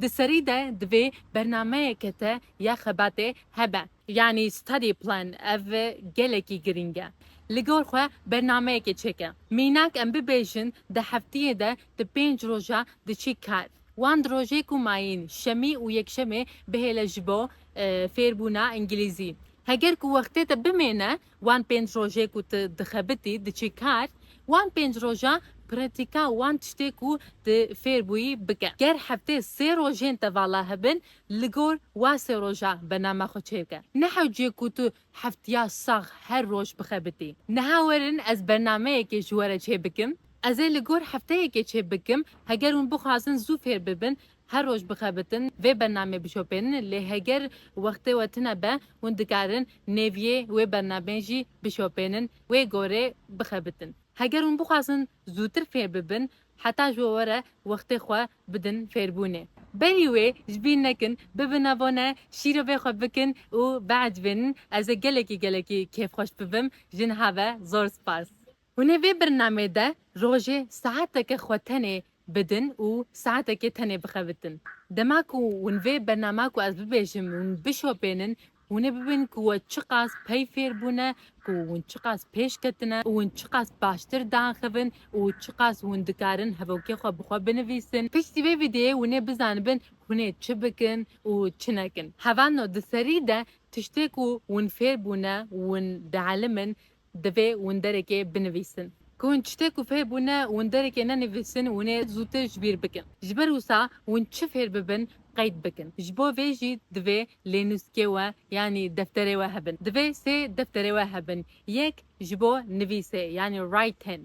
Di serî de divê bernameyeke te ya xebatê hebe. Yanî study plan ev gelekî girîng e. Li gor xwe bernameyekê çêke. Mînak em bibêjin di heftiyê de tu pênc roja diçî kar. Wan di rojê ku mayîn, şemî û yekşemê bihêle ji bo fêrbûna îngilîzî. Heger ku wextê te bimêne Wan pênc rojê ku tu dixebitî, diçî kar, wan pênc roja pratîka wan tiştê ku tu fêr bûyî bike. Ger heftê sê rojên te vala hebin, li gor wa sê roja bername xwe çêr ke. Ne hewcê ku tu heftiya sax her roj bixebitî. Niha werin ez bernameyekê ji we re çê bikim. Ez ê li gor hefteyekê çê bikim, heger hûn bixwazin zû fêr bibin, Her roj bixebitin vê bernameyê bişopênin lê heger wextê we tune be hûn dikarin nêviyê wê bernameyê jî bişopênin wê gorê bixebitin. Heger hûn bixwazin zûtir fêr bibin heta ji we were wextê xwe bidin fêrbûnê. Berî wê ji bîr nekin, bibin abone, şîro bê xwe bikin û biecibênin. Ez ê gelekî gelekî kêfxweş bibim. Ji niha ve zor spas. Hûn ê vê birnameyê de rojê saeteke xwe tenê bidin û saetekê tenê bixebitin. Dema ku hûn vê bernama ku ez bibêjim hûn bişopênin, hûn ê bibînin ku we çiqas pey fêr bûne, ku hûn çiqas pêş ketine û hûn çiqas baştir diaxivin û çiqas hûn dikarin hevokê xwe bi xwe binivîsin. Piştî vê vîdyoyê hûn ê bizanibin hûn ê çi bikin û çi nekin. Hevano di serî de tiştê ku hûn fêr bûne û hûn dielimin Divê winderekê binivîsin. Ku hûn çi tê ku fêr bûne winderekê nenivîsin hûnê zûtir ji bîr bikin. Ji ber wisa hûn çi fêr bibin qeyd bikin. Ji bo vê jî divê lênûskê we yanî defterê we hebin. Divê sê defterê we hebin. Yek ji bo nivîsê yanî writing.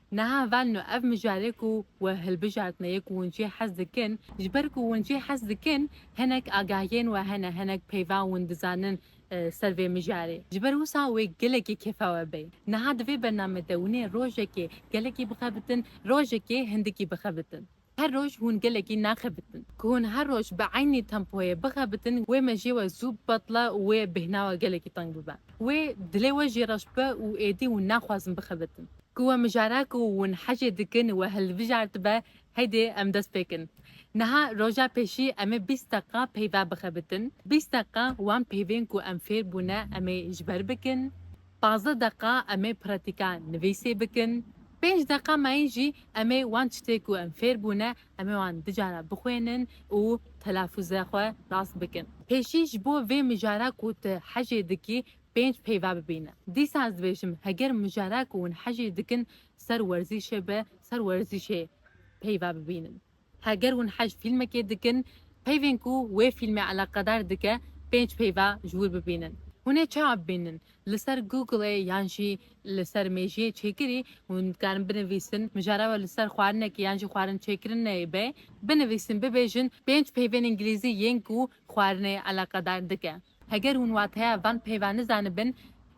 Niha velno ev mijarê ku we hilbijartine yê ku hûn çê hez dikin, ji ber ku hûn çê hez dikin hinek agahiyên we hene, hinek peyva hûn dizanin ser vê mijarê. Ji ber wisa wê gelekî kêfa we bê. Niha di vê bername de hûn ê rojekê gelekî bixebitin, rojekê hindikî bixebitin. Her roj hûn gelekî naxebitin. Ku hûn her roj bi eynî tempoyê bixebitin wê mejiyê we zû bibetile û wê bêhna we gelekî teng bibe. Wê dilê we jî reş bibe û êdî hûn naxwazin bixebitin. Ku we mijara ku hûn hecê dikin we hilbijartibe heydê em dest pê kin. Niha roja pêşî em ê bîst deqiqa peyva bixebitin. Bîst deqiqa wan peyvên ku em fêr bûne em ê ji ber bikin. Pazdeh deqa em ê pratika nivîsê bikin, pênc deqa mayî jî em ê wan çitê ku em fêr bûne em ê wan du cara bixwênin û telafûza xwe rast bikin. Pêşî ji bo vê mijara ku tu hejê dikî pênc peyva bibîne. Dîsa ez dibêjim heger mijara ku hûn hejê dikin ser werzîşê be, ser werzîşê peyva bibînin. Heger hûn heşt fîlmekê dikin, peyvên ku wê fîlmê eleqedar dike pênc peyva ji wir bibînin. Hûn ê çawa bibînin? Li ser Google yan jî li ser mêjiyê çêkirî hûn dikarin binivîsin, mijara we li ser xwarinekê yan jî xwarin çêkirinê be, binivîsin bibêjin pênc peyvên îngilîzî yên ku xwarinê eleqedar dike. Heger hûn wateya van peyva nizanibin,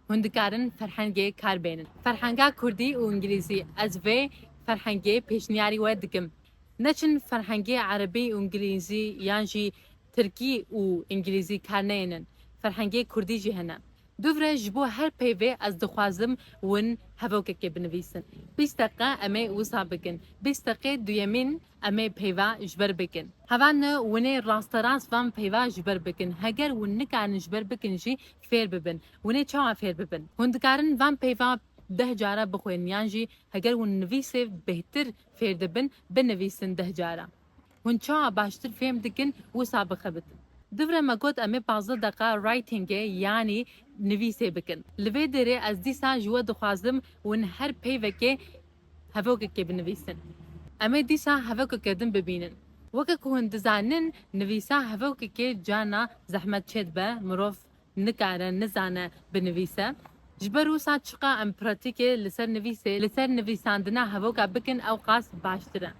hûn dikarin ferhengê kar bênin. Ferhenga kurdî û îngilîzî, ez vê ferhengê pêşniyarî we dikim. Neçin ferhengê erebî û îngilîzî yan jî tirkî û îngilîzî kar neyênin. Ferhengê kurdî jî hene. Dûvre ji bo her peyvê ez dixwazim win hevokekê binivîsin. Bîst deqe em ê wisa bikin. Bîst deqê duyemîn. Em ê peyva ji ber bikin. Heval ne winê rasterast van peyva ji ber bikin. Heger win nikarin ji ber bikin jî fêr bibin. Winê çawa fêr bibin? Hûn dikarin van peyva deh cara bixwênin yan jî heger hûn nivîsê bêhtir fêr dibin binivîsin deh cara. Hûn çawa baştir fêm dikin wisa bixebitin. Divre me got em ê pazdeh deqa writingê yanî nivîsê bikin. Li vê derê ez dîsa ji we dixwazim win her peyvekê. hevokekê binivîsin. Em ê dîsa hevokeke din bibînin. Weke ku hûn dizanin nivîsa hevokekê carna zehmet çê dibe, mirov nikare, nizane binivîse. Ji ber wisa çiqa em pratîkê li ser nivîsê, li ser nivîsandina hevoka bikin ew qas baştir e.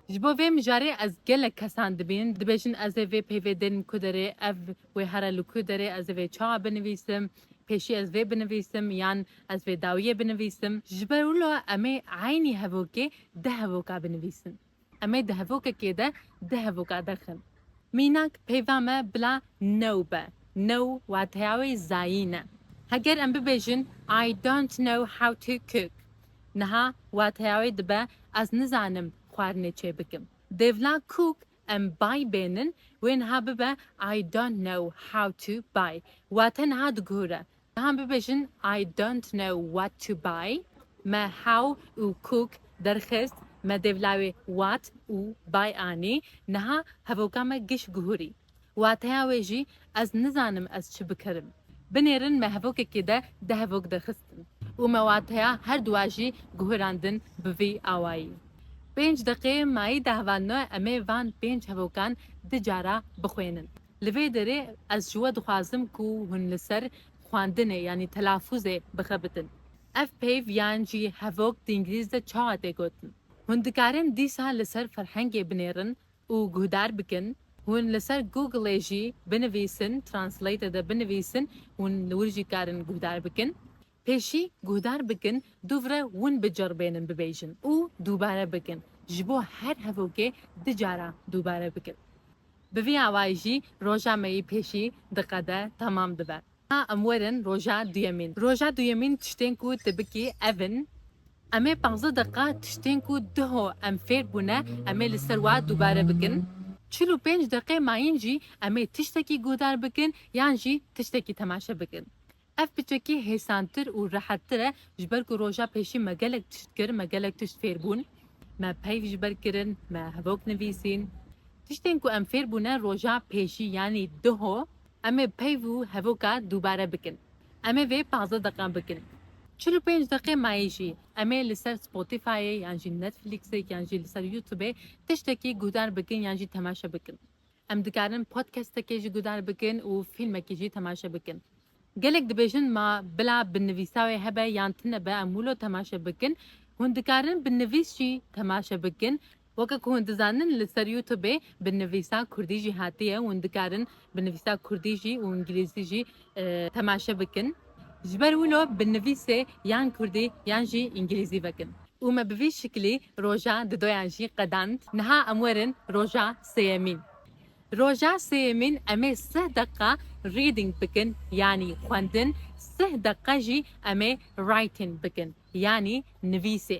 Ji bo vê mijarê ez gelek kesan dibînim, dibêjin ez ê vê peyvê dêrim ku derê, ev wê here li ku derê, ez ê vê çawa binivîsim. Pêşî ez vê binivîsim yan ez vê dawiyê binivîsim. Ji ber wilo em ê eynî hevokê di hevoka binivîsin. Em ê di hevokekê de di hevoka derxin. Mînak peyva me bila new be. New wateya wê zayîn e. Heger em bibêjin I don't know how to cook niha wateya wê dibe ez nizanim xwarinê çêbikim. Dêvla cook Em bay bênin wê niha bibe I don't know how to buy wate niha diguhure. Niha bibêjin I don't know what to buy me how û cook derxist me dêvlawê what û buy anî niha hevoka me giş guhurî. Wateya wê jî ez nizanim ez çi bikerim. Binêrin me hevokekê de di hevok de xistin û me wateya her duwa jî guhirandin bi vî awayî. Pênc deqê mayî dahvalno emê van pênc hevokan di cara bixwênin. Li vê derê ez ji we dixwazim ku hûn li ser xwendinê yanî telafuzê bixebitin. Ev peyv yan jî hevok di îngilîz de çawa tê gotin? Hûn dikarin dîsa li ser ferhengê binêrin? û guhdar bikin, hûn li ser Googlê jî binivîsin, Translate de binivîsin, hûn li wir jî karin guhdar bikin. Pêşî guhdar bikin dûvre win biceribênin bibêjin û dûbare bikin, ji bo her hevokê du cara dûbare bikin. Bi vî awayî jî roja me yî pêşî diqede, temam dibe. Ha em werin roja duyemîn. Roja duyemîn tiştên ku tu bikî ev in, Em ê panzdeh deqiqa tiştên ku diho em fêr bûne em ê li ser we dubare bikin. Çil û pênc deqê mayîn jî em ê tiştekî guhdar bikin yan jî tiştekî temaşe bikin. Ev piçekî hêsantir û rehettir e ji ber ku roja pêşî me gelek tişt kir, me gelek tişt fêr bûn. Me peyv ji ber kirin, me hevok nivîsîn. Tiştên ku em fêr bûne roja pêşî yanî diho, Em ê peyv û hevoka dubare bikin. Em ê vê pazdeh deqan bikin. Çil û pênc deqê mayî jî em ê li ser Spotifyê yan jî Netflixê yan jî li ser Youtubê tiştekî guhdar bikin yan jî temaşe bikin. Em dikarin podcastekê jî guhdar bikin û fîlmekî jî temaşe bikin. Gelek dibêjin ma bila bi nivîsa wê hebe yan tune be em wilo temaşe bikin. Hûn dikarin bi nivîs jî temaşe bikin. Weke ku hûn dizanin li ser Youtubê bi nivîsa kurdî jî hatiye û hûn dikarin bi nivîsa kurdî jî û îngîlîzî jî temaşe bikin. Ji ber wilo bi nivîsê yan kurdî yan jî îngîlîzî vekin. Û me bi vî şiklî roja di doyan jî qedand. Niha em werin roja sêyemîn. Roja sêyemîn em ê sih deqiqa reading bikin yanî xwendin, sih deqiqa jî em ê writing bikin yanî nivîsê.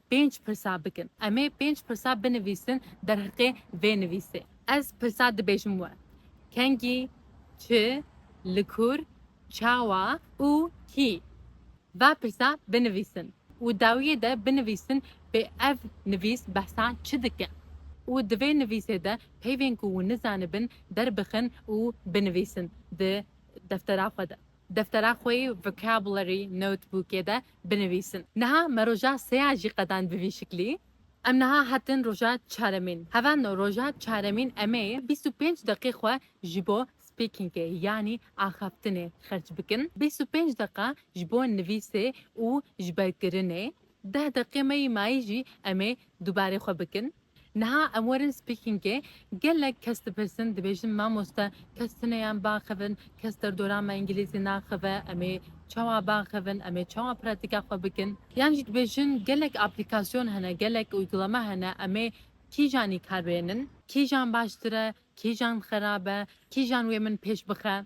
Pênc pirsa bikin. Em ê pênc pirsa binivîsin derheqê vê nivîsê. Ez pirsa dibêjim we. Kengî, çi, li kur, çawa û kî? Va pirsa binivîsin û dawiyê de binivîsin pê ev nivîs behsa çi dike û di vê nivîsê de peyvên ku wan nizanibin derbixin û binivîsin di deftera xwe de. Deftera xwe yê Vocabulary Notebookê de binivîsin. Niha me roja seya jî qedand bi vî şiklî. Em niha hatin roja çaremîn. Hevando roja çaremîn em ê bîst û pênc deqê xwe ji bo speakingê yanî axaftinê xerç bikin. Bîst û pênc deqa ji bo nivîsê û ji ber kirinê. Deh deqê me yî mayî jî em ê dubarê xwe bikin. Niha em werin speakingê, gelek kes dipirsin dibêjin mamoste kes tune yan biaxivin, kes derdora me îngilîzî naxive, em ê çawa biaxivin, em ê çawa pratîka xwe bikin? Yan jî dibêjin gelek aplîkasyon hene, gelek uygulama hene em ê kîjan îkar bênin? Kîjan baştir e, kîjan xerab e, kîjan wê min pêş bixe?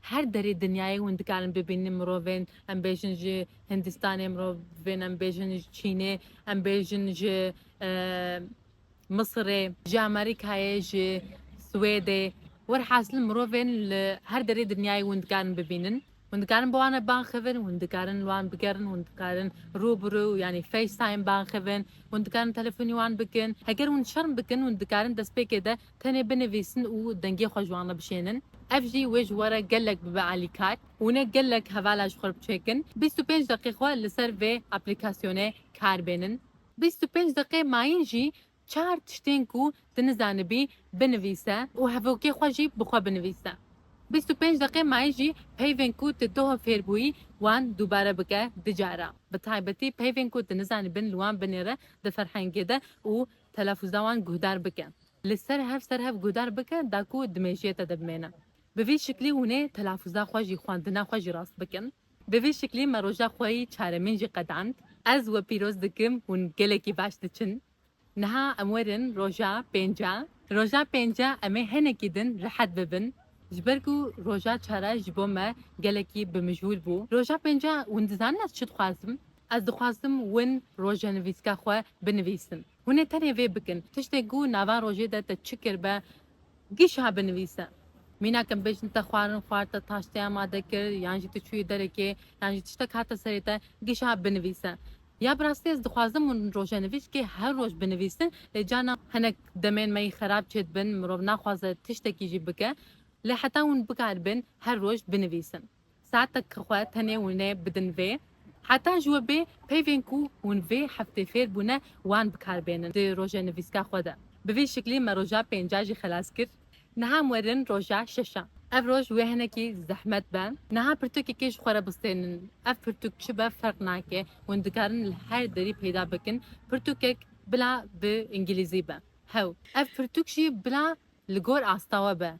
Her derê dinyayê hûn dikarin bibînin mirovên em bêjin ji Hindistanê, mirovên em bêjin ji Çînê, em bêjin ji Misirê, ji Amerîkayê, ji Swêdê. Werhasil mirovên li her derê dinyayê hûn dikarin bibînin, hûn dikarin bi wan re bang xivin, hûn dikarin li wan bigerin, hûn dikarin rû bi rû yanî FaceTime bang xivin, hûn dikarin telefonî wan bikin. Heger hûn şerm bikin hûn dikarin destpêkê de Tenê binivîsin û dengê xwe ji wan re bişênin. Ev jî wê ji we re gelek bibe alîkar. Hûn ê gelek hevala ji xwe re biçêkin. Bîst û pênc deqê xwe li ser vê aplîkasyonê kar bênin. Bîst û pênc deqê mayîn jî çar tiştên ku tu nizanibî binivîse û hevokê xwe jî bi xwe binivîse. Bîst û pênc deqê mayîn jî peyvên ku tu toho fêr bûyî wan dubare bike du cara. Bi taybetî peyvên ku tu nizanibin li wan binêre di ferhengê de û Telafûza wan guhdar bike. Li ser hev ser hev guhdar bike da ku di mêjiyê te de bimêne. Bi vî şiklî hûn ê telafûza xwe jî xwendina xwe jî rast bikin. Bi vî şiklî me roja xwe yî çaremîn jî qedand. Ez we pîroz dikim hûn gelekî baş diçin. Niha em werin roja pênca. Roja pênca em ê hinekî din rehet bibin. Ji ber ku roja çar e ji bo me gelekî bi mijûl bû. Roja pênca hûn dizanin ez çi dixwazim? Ez dixwazdim win rojenivîska xwe binivîsim. Hûn ê tenê vê bikin. Tiştê ku nava rojê de te çi kir be giha binivîse. Mînak em bêjin te xwarin xwar, te taştê amade kir yan jî tu çûyî derekê yan jî tiştek hate serê te giha binivîse. Ya bi rastî ez dixwazdim hûn rojenivîskê her roj binivîsin lê carna hinek demên me yî xerab çêdibin mirov naxwaze tiştekî jî bike lê heta hûn bikaribin her roj binivîsin. Saetekî xwe tenê winê bidin vê. Heta ji we bê peyvên ku hûn vê heftê fêr bûne wan bi kar bênin di rojê nivîska xwe de. Bi vî şiklî me roja pênc'a jî xelas kir. Niha em werin roja şeş'a. Ev roj wê hinekî zehmet be. Niha pirtûkekê ji xwe re bistênin. Ev pirtûk çi be ferq nake. Hûn dikarin li her derî peyda bikin. Pirtûkek bila bi îngîlîzî be. Hew. Ev pirtûk jî bila li gor asta we be.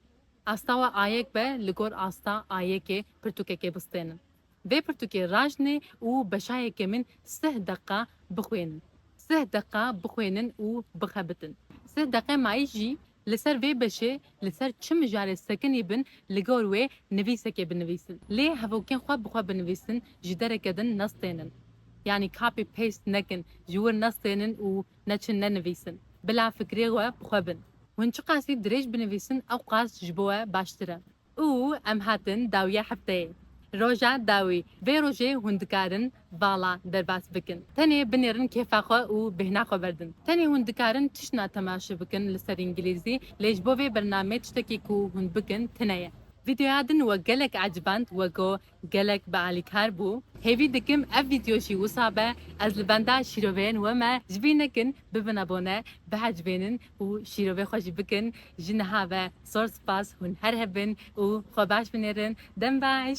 Asta we ayek be li gor asta ayekê pirtûkekê bistênin. Vê pirtûkê rajnê û beşayekê min sih deqa bixwênin. Sih deqa bixwênin û bixebitin. Sih deqê mayî jî li ser vê beşê li ser çi mijarê sekinî bin li gor wê nivîsekê binivîsin. Lê hevokên xwe bi xwe binivîsin ji dereke din nestênin. Yanî copy paste nekin, ji wir nestênin û neçin nenivîsin. Bila fikirê we bi xwe bin. Hûn çiqasî dirêj binivîsin ew qas ji bo we baştir e. Û em hatin dawiya hefteyê. Roja dawî, vê rojê hûn dikarin vala derbas bikin. Tenê binêrin kêfa xwe û bêhna xwe berdin. Tenê hûn dikarin tişna temaşe bikin li ser îngilîzî, lê ji bo vê bernameyê tiştekî ku hûn bikin tune ye. Vîdeoya din we gelek eciband we got Gelek bi alîkar bû. Hêvî dikim ev vîdyo jî wisa be, ez li benda şîroveyên we me, ji bîr nekin bibin abone, bihecbênin û şîrovê xwe jî bikin, ji niha ve zor spas, hûn her hev bin û xwe baş binêrin, dem baş.